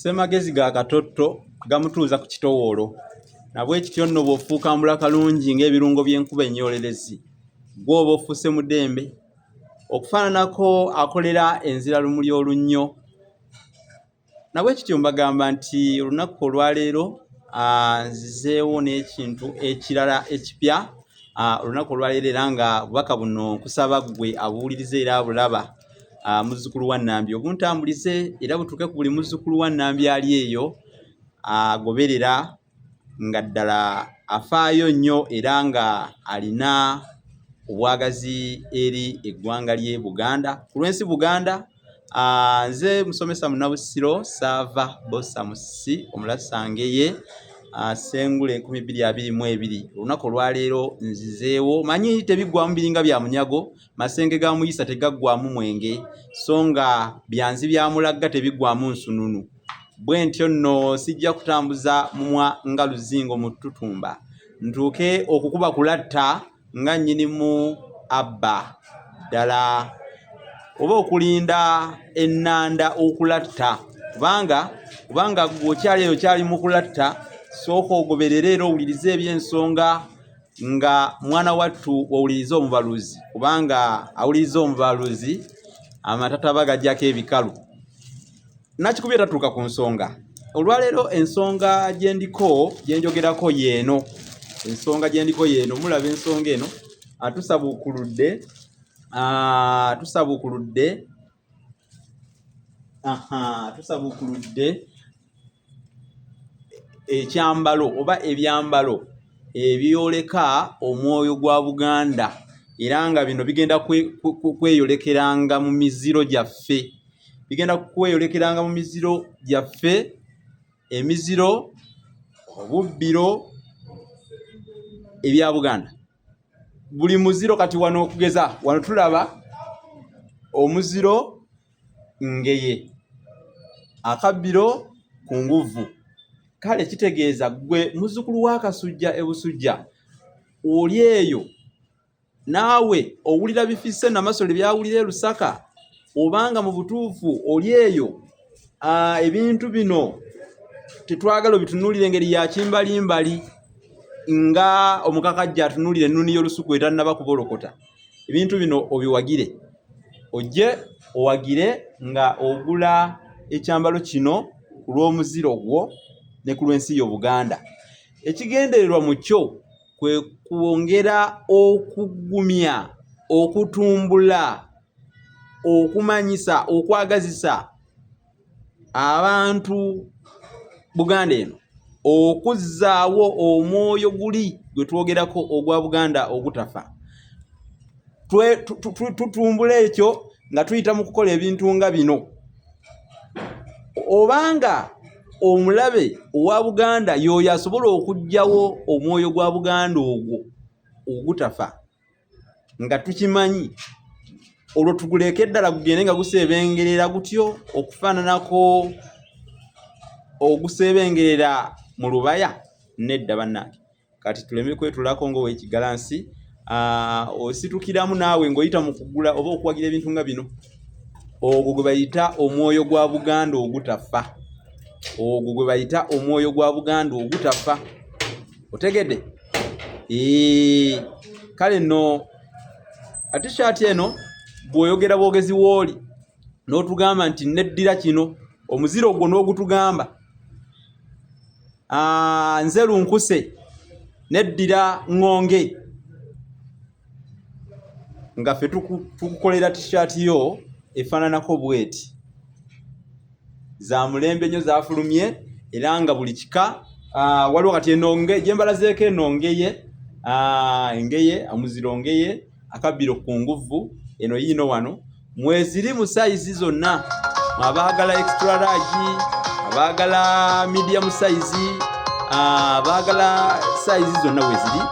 ssemagezi ga katotto gamutuuza ku kitowoolo nabwekityo nno bw'ofuukambula kalungi ng'ebirungo by'enkuba ennyoolerezi gw'oba ofuuse mudembe okufaananako akolera enzira lumuli olunnyo nabwekityo mbagamba nti olunaku olwaleero nzizeewo n'ekintu ekirala ekipya olunaku olwaleero era nga bubaka buno nkusaba ggwe abuwuliriza era abulaba ah, muzzukulu wa nambi obuntambulize era butuuke ku buli muzzukulu wa nambi ali eyo agoberera ah, nga ddala afaayo nnyo era nga alina obwagazi eri eggwanga lye buganda ku lwensi buganda ah, nze musomesa munabusiro saava bosa musi omulasangeye Ah, sengule enkumi bbiri abiri mu ebiri olunaku olwaleero nzizeewo manyi tebiggwamu biringa bya munyago Masenge ga Muyisa tegaggwaamu mwenge, so nga byanzi bya Mulagga tebiggwaamu nsununu. Bwe ntyo nno sijja kutambuza mumwa nga luzingo mu ttutumba, ntuuke okukuba ku latta nga nnyinimu abba. Ddala oba okulinda ennanda okulatta, kubanga kubanga ggwe okyali eyo okyali mu kulatta, sooka ogoberere era owulirize eby'ensonga nga mwana wattu owuliriza omubaluzi kubanga awuliriza omubaluzi amatataba gajjako ebikalu nakikubi etatuuka ku nsonga olwaleero ensonga gyendiko gyenjogerako yeeno ensonga gyendiko yeeno mulaba ensonga eno atusabukuludde atusabukuludde aha tusabukuludde ekyambalo oba ebyambalo ebyoleka omwoyo gwa buganda era nga bino bigenda kweyolekeranga mu miziro gyaffe bigenda kweyolekeranga mu miziro gyaffe emiziro obubbiro ebya buganda buli muziro kati wano okugeza wano tulaba omuziro ngeye akabbiro ku nguvu kale kitegeeza gwe muzzukulu wa kasujja ebusujja oli eyo naawe owulira bifisse namasole byawulira e lusaka obanga mu butuufu oli eyo ah, ebintu bino tetwagala obitunulire engeri ya kimbalimbali nga omukakajja atunulire ennuni y'olusuku etannaba kubolokota ebintu bino obiwagire ojje owagire nga ogula ekyambalo kino ku lw'omuziro gwo ne ku lw'ensi yo buganda ekigendererwa mu kyo kwe kwongera okugumya okutumbula okumanyisa okwagazisa abantu buganda eno okuzzaawo omwoyo guli gwe twogerako ogwa buganda ogutafa tutumbula ekyo nga tuyita mu kukola ebintu nga bino obanga omulabe owa buganda yooyo asobola okugyawo omwoyo gwa buganda ogwo ogutafa nga tukimanyi olwo tuguleeka eddala gugende nga guseebengerera gutyo okufaananako oguseebengerera mu lubaya nedda bannange kati tuleme kwetulako ngaowekigalansi ah, ositukiramu naawe ng'oyita mu kugula oba okuwagira ebintu nga bino ogwo gwe bayita omwoyo gwa buganda ogutafa ogwo gwe bayita omwoyo gwa buganda ogutafa otegedde Eee, kale no atishaati eno bw'oyogera bwogezi wooli n'otugamba nti neddira kino omuziro ogwo n'ogutugamba nze lunkuse neddira ŋŋonge nga ffe tukukolera t-shirt yo efaananako bweti za mulembe nnyo zafulumye era nga buli kika ah, waliwo kati enonge gyembalazeeko enongeye ah, engeye omuziro ngeye akabbiro ku nguvu eno yiino wano mweziri mu sayizi zonna abaagala extra large abaagala medium sayizi abaagala sayizi zonna weziri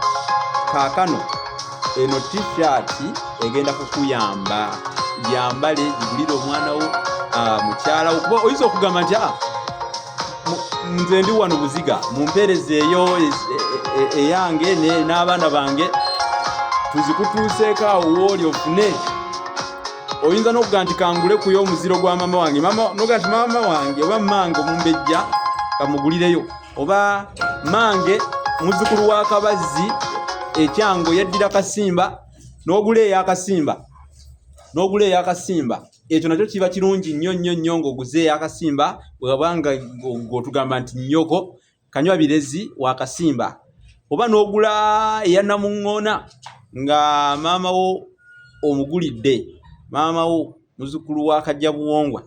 kaakano eno t-shirt egenda kukuyamba yambale gigulire omwana wo ah, mukyala wo kuba oyinza okugamba nti a ah, nze ndi wano buziga mumpeereza eyo e, e, e, eyange n'abaana bange tuzikutuuseeko awo wooli ofune oyinza n'okuga nti kangule kuyo omuziro gwa maama wange noga nti maama wange oba mange omumbejja kamugulireyo oba mange muzukulu wa kabazzi ekyango yaddira kasimba n'ogula eyakasimba n'ogula eyakasimba ekyo nakyo kiba kirungi nnyo nnyo nnyo ng'oguzeeyo akasimba bwewaba nga ng'otugamba nti nnyoko kanywa birezi wakasimba oba n'ogula eya namuŋŋoona nga maama wo omugulidde maama wo muzukulu wa kajja buwongwa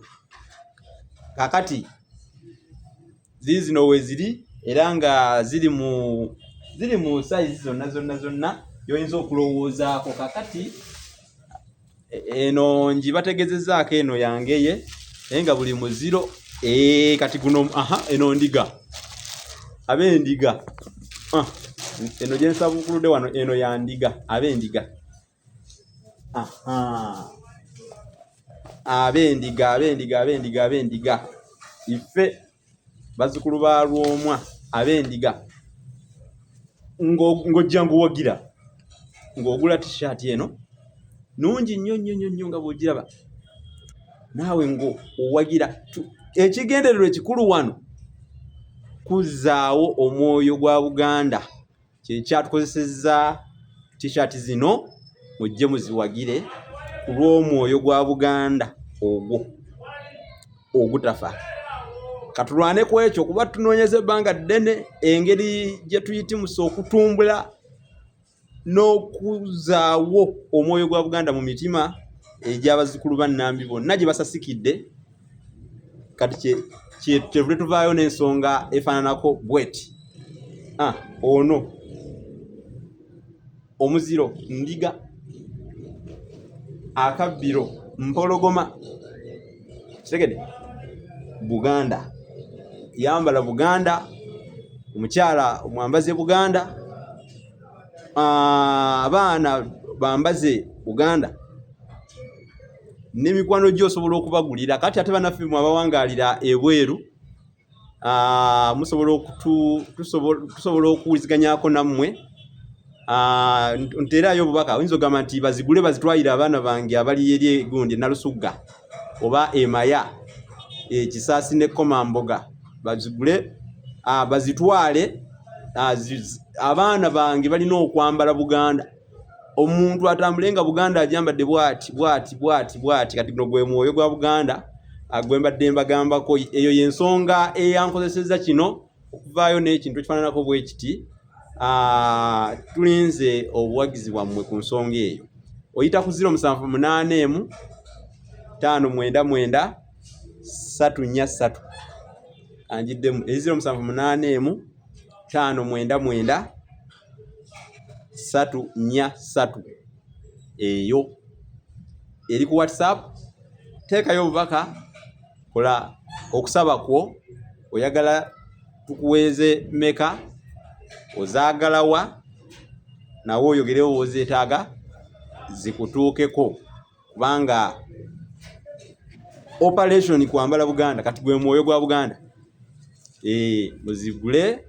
kakati ziizino weziri era nga ziri mu ziri mu sayizi zonna zonna zonna gyoyinza okulowoozaako kakati e, eno nji bategezezaako eno yangeye naye nga buli muziro e, kati guno aha eno ndiga abendiga ah, eno gyensabuukulude wano eno yandiga abendiga abendiga abendiga abendiga abendiga ife bazukulu ba lwomwa abendiga ng'ojja nguwagira ng'ogula tishaati eno nungi nnyo nnyo nnyo nnyo nga bw'ogiraba naawe ng'owagira ekigendererwa ekikulu wano kuzzaawo omwoyo gwa buganda kyekyatukozesezza t-shirt zino mujje muziwagire ku lw'omwoyo gwa buganda ogwo ogutafa katulwane ku ekyo kuba tunoonyeza ebbanga ddene engeri gye tuyitimusa okutumbula n'okuzaawo omwoyo gwa buganda mu mitima egy'abazzukulu ba nambi bonna gye basasikidde kati kyetuvule tuvaayo n'ensonga efaananako bweti ah, ono omuziro ndiga akabbiro mpologoma kitegede buganda yambala buganda omukyala omwambaze buganda ah, abaana bambaze buganda ne mikwano gyo osobola okubagulira kati ate banaffe mwe abawangalira ebweru ah, musobola okutu tusobola okuwuliziganyako nammwe ah, nteerayo obubaka oyinza ogamba nti bazigule bazitwayire abaana bange abali eri egundi nalusugga oba emaya ekisaasi ne komamboga bazigule ah, bazitwale abaana bange balina okwambala buganda omuntu atambule nga buganda ajambadde bwati bwati bwati bwati kati guno gwe mwoyo gwa buganda agwembadde mbagambako eyo yensonga eyankozeseza kino okuvaayo n'ekintu ekifananako bwekiti ah, tulinze obuwagizi bwammwe ku nsonga eyo oyita ku ziro musanvu munaana emu taano mwenda mwenda satu nnya satu anjiddemu eziro musanvu munaana emu taano mwenda mwenda satu nya satu eyo eri ku whatsapp teekayo obubaka kola okusaba kwo oyagala tukuweeze meka ozaagalawa nawe oyogerewo wozeetaaga zikutuukeko kubanga operation kwambala buganda kati gwe mwoyo gwa buganda eh muzigule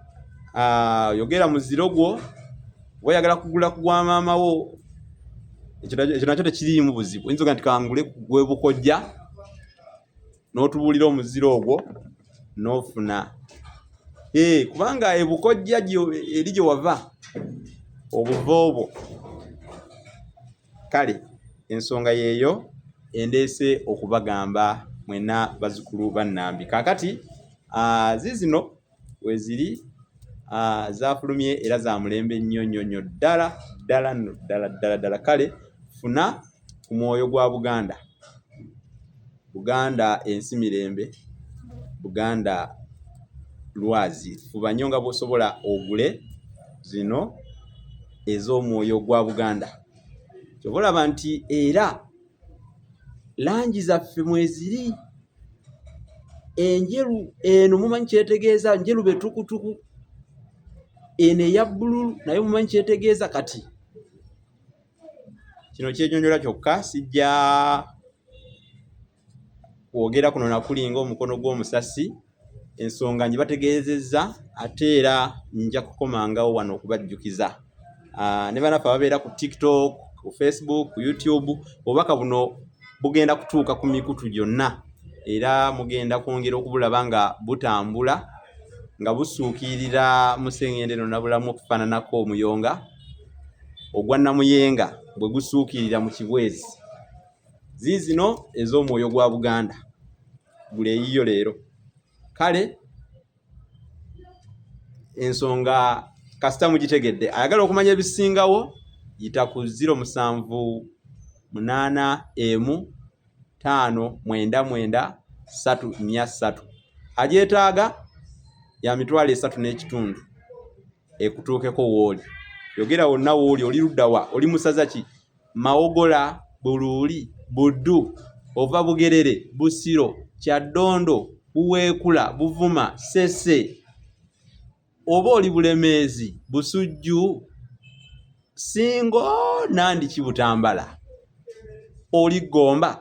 ah yogera muziro gwo wayagala kugula kugwa mama wo ekyo nakyo tekiri mu buzibu oyinza oga nti kangule gwe bukojja n'otubuulira omuziro ogwo n'ofuna ee eh, kubanga ebukojja eri gye wava obuva obwo Kale ensonga yeeyo endeese okubagamba mwena bazukulu ba Nambi. Kakati aa zizino weziri aa zafulumye era za mulembe nnyo nnyo nnyo ddala ddala no ddala ddala ddala kale funa ku mwoyo gwa Buganda. Buganda ensi mirembe Buganda lwazi fuba nnyo nga bwosobola ogule zino ez'omwoyo gwa Buganda kyoba olaba nti era langi zaffe mweziri enjeru eno mumanyi kyetegeeza njeru betukutuku eno eya bbululu naye mumanyi kyetegeeza kati kino kyenyonyola kyokka sijja kwogera kuno nakulinga omukono gw'omusasi ensonga njibategeezezza ate era nja kukomangawo wano okubajjukiza ah, ne banaffe ababeera ku tiktok ku facebook ku youtube obubaka buno bugenda kutuuka ku mikutu gyonna era mugenda kwongera okubulaba nga butambula nga busuukirira museŋende nonabulamu okufaananako omuyonga ogwa Namuyenga bwe gusuukirira mu Kibwezi. Ziizino ez'omwoyo gwa Buganda gula eyiyo leero. Kale ensonga kasita mugitegedde ayagala okumanya ebisingawo yita ku ziro musanvu munaana emu ttaano mwenda mwenda ssatu nnya ssatu agyetaaga ya mitwalo esatu n'ekitundu. ekutuukeko wooli yogera wonna wooli oli luddawa oli musaza ki mawogola buluuli buddu ova bugerere busiro kyaddondo buweekula buvuma sese oba oli bulemeezi busujju singo nandi kibutambala oli gomba